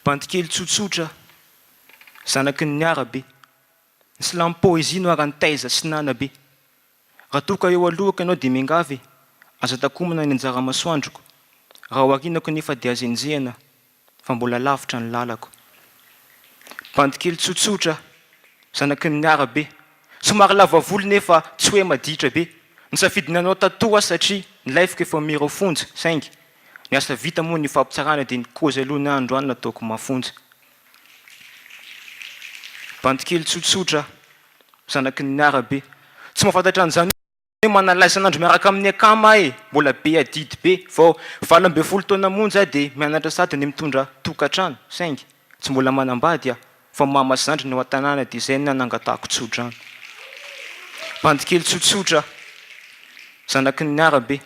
Bandy kely tsotsotra, zanaky ny arabe. Ny silamo poezia no aran'ny taiza sy nanabe. Raha toa ka eo alohako ianao dia miangavy e, aza takomina ny anjara-masoandroko. Raha ao arinako nefa dia aza enjehina. fa mbola lavitra ny lalako. Bandy kely tsotsotra, zanaky ny arabe, somary lava volo nefa tsy hoe maditra be. Nisafidy ny hanao tattoo aho satria ny lifeko efa mirao fonja saingy ny asa vita moa ny fampitsarana dia ny kozy aloha ny androany nataoko mafonja. Bandy kely tsotsotra, zanaky ny arabe, tsy mahafantatra an'izany aho. Hoe manala isan'andro miaraka amin'ny akama aho e! Mbola be adidy be. Vao valo ambin'ny folo taona monja aho dia mianatra sady ny mitondra tokantrano. Saingy tsy mbola manambady aho. Fa mama sy zandriny ao an-tanàna dia izay no nanangatahako tsodrano. Bandy kely tsotsotra aho. Zanaky ny arabe.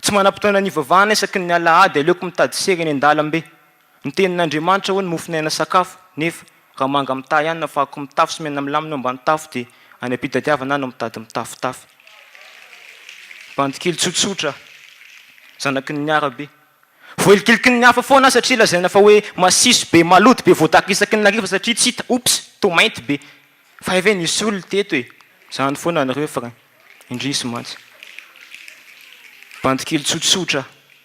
Tsy manam-potoana ny hivavahana isaky ny alahady. Aleoko mitady sery eny an-dalambe. Ny tenin'Andriamanitra hoe ny mofon'aina sakafo, nefa raha manga mitahy hanina fa akoho mitafy sy mena milamina eo ambany tafo dia any am-pitadiavana ahy no mitady mitafotafy. Bandikely tsotsotra, zanaky ny miarabe. Voahilikiliky ny hafa foana aho satria lazaina fa hoe masiso be, malody be, voadaka isaky ny hariva satria tsy hita, oops, toa mainty be. Fa hay ve nisy olona teto e? Zany foana ny refrain. Indrisy mantsy. Bandikely tsotsotra.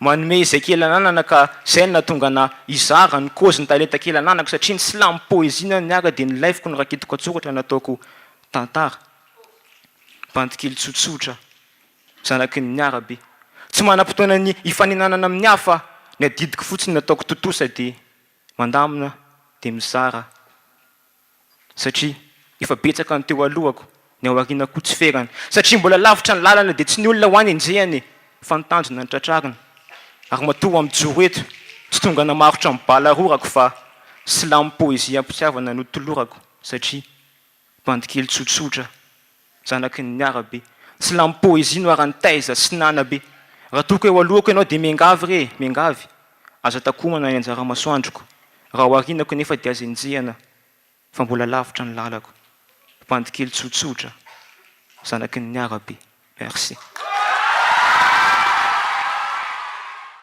Manome izay kely ananana ka izay no nahatonga anah hizara ny kôzy ny talenta kely ananako satria ny slam poésie na ny ara dia nilaiviko ny raketiko an-tsoratra nataoko tantara. Bandikely tsotsotra zanaky ny miarabe. Tsy manam-potoana ny hifaninanana amin'ny hafa ny adidiko fotsiny nataoko tontosa dia mandamina dia mizara. Satria efa betsaka ny teo alohako, ny aoriana koa tsy ferany. Satria mbola lavitra ny lalana dia tsy ny olona ho any enjehana e, fa ny tanjona no tratrarina. Ary matoa aho mijoro eto, tsy tonga namarotra ny bala rorako fa silamim-poeziam-pitiavana notolorako satria bandy kely tsotsotra Zanaky ny arabe. Silamo poezia no aran'i taiza sy nanabe. Raha toa ka eo alohako ianao dia miangavy re e, miangavy. Aza takomana ny anjara masoandroko. Raha ho arinako nefa dia aza enjehana fa mbola lavitra ny lalako. Bandy kely tsotsotra, zanaky ny arabe. Merci.